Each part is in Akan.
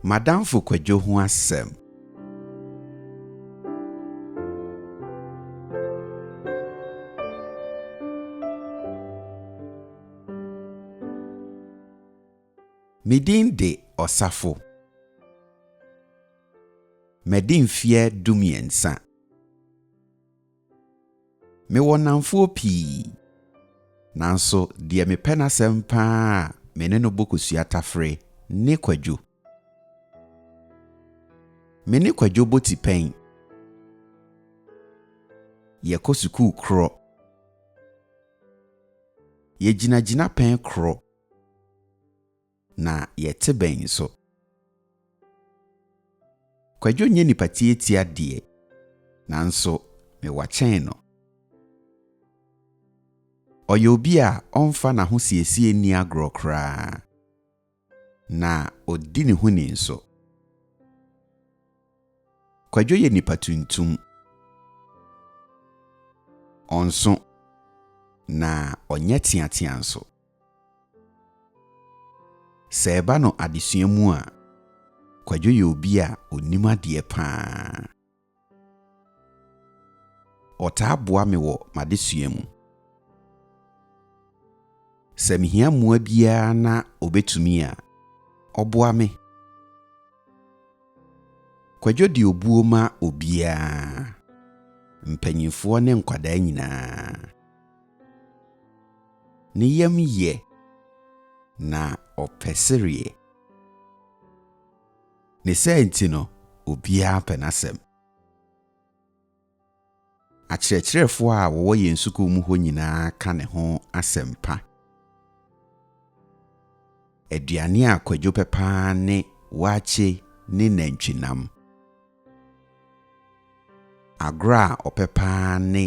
M'adamfo Kwadwo ho asɛm. Me din de Ɔsafo. Madi mfeɛ dumiɛnsa. Mewɔ nnamfoɔ pii, nanso deɛ mepɛ n'asɛm pa ara a me ne no bɔ kosua tafere ne Kwadwo. Me ne Kwadwo bɔ tipɛn, yɛkɔ sukuu korɔ, yɛgyina gyinapɛn korɔ, Na yɛte bɛn nso? Kwadwo nyɛ nipa tiatia deɛ, nanso mewɔ kyɛn no. Ɔyɛ obi a ɔmfa n'ahosiesie nni agorɔ koraa, na ɔdi ne ho ni nso. Kwadwo yɛ nipa tuntum. Ɔnso, na ɔnyɛ teatea nso. Sɛ ɛba no adesua mu a, Kwadwo yɛ obi a ɔnim adeɛ pa ara. Ɔtaa boa me wɔ m'adesua mu. Sɛ mehia mmoa biara na ɔbɛtumi a, ɔboa me. Kwadwo de obuo ma obiara, mpanimfoɔ ne nkwadaa nyinaa. Ne yam yɛ, na ɔpɛ sereɛ. Ne saa nti no, obiara pɛ n'asɛm. Akyerɛkyerɛfoɔ a wɔwɔ yɛn sukuu mu hɔ nyinaa ka ne ho asɛm pa. Aduane a Kwadwo pɛ pa ara ne waakye ne nantwinam. Agorɔ a ɔpɛ paa ne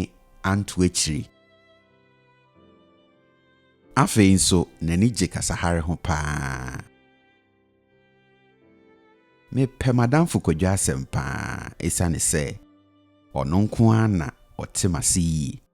anto akyiri. Afei nso n'ani gye kasahare ho paa. Mepɛ m'adamfo Kwadwo asɛm paa esiane sɛ ɔno nko ara na ɔte m'ase yie.